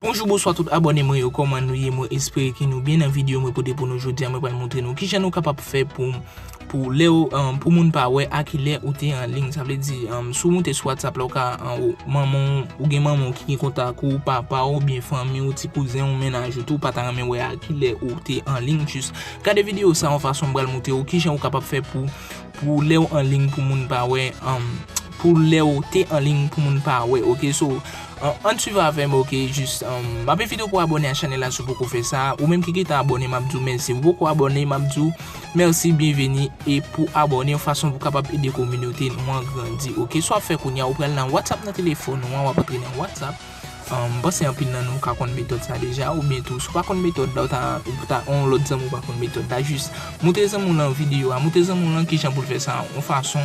Bonjou bonswa tout abòne mwen yo kòman nou ye mwen espere ke nou byen nan video mwen pote pou nou jodi a mwen pral montre nou kijan nou kapab fè pou pou lèw pou moun pa wè a kilè ou te an ligne sa vle di si w moute sou whatsapp la ou ka anwo manman w ou gen manman w ki gen kontak ou papa w oubyen fanmi w ti kouzen w mennaj ou tou pa ta renmen wè a kilè ou te an ligne jis gade video sa yon fason m pral moute w kijan ou kapab fè pou pou lèw an ligne pou moun pa wè. Pou lèw te anliy pou moun pa wè ok so ann swiv avèm ok jis map envitew pou abòne a chanèl la siw poko fè sa ou menm ki gentan abòne map diw mèsi ou poko abòne map diw mèsi byenveni e pou abòne yon fason pou kapab ede kominote nou an grandi ok sa wap fè kounya ou pral nan whatsapp nan telefòn ou an wap antre nan whatsapp mpanse anpil nan nou ka konn metòd sa deja oubyen tou si ou pa konn metòd la ou ta ou ta yon lòt zanmi ou pa konn metòd la jis moutre zanmiw lan videyo a moutre zanmiw lan kijan poul fè sa yon fason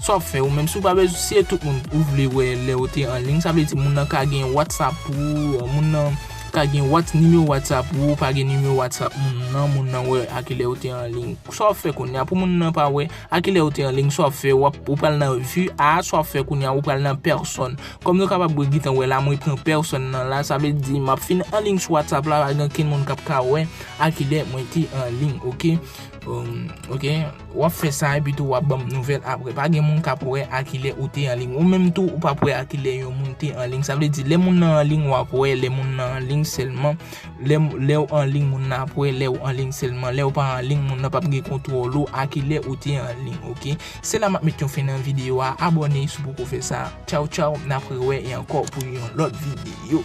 Sa wap fè ou menm si ou pa bezwen si e tout moun ou vle wè lè ou te anliy sa vle di moun nan ka gen whatsapp ou moun nan ka gen whats nimewo whatsapp ou pa gen nimewo whatsapp moun nan moun nan wè a kilè ou te anliy sa wap fè kounya pou moun nan pa wè a kilè ou te anliy sa wap fè wap ou pral nan vi a sa wap fè kounya ou pral nan pèsòn kòm nou kapab wè gentan wè la mwen pran pèsòn nan la sa vle di map fin anliy sou whatsapp la pa gen okenn moun kap ka wè a kilè mwen te anliy ok ok. Wap fè sa epi tou wap banm nouvèl aprè. Pa gen moun kap wè a kilè ou te anliy. Ou menm tou ou pap wè a kilè yon moun te anliy. Sa vle di lè moun nan anliy wap wè lè moun nan anliy sèlman. Lèw anliy moun nan ap wè lèw anliy sèlman. Lèw pa anliy moun nan pap gen kontwòl ou a kilè ou te anliy ok. Se la map met yon fen nan video a. Abòne si w poko fè sa. Tchaw tchaw nap rewè e ankò pou yon lòt video.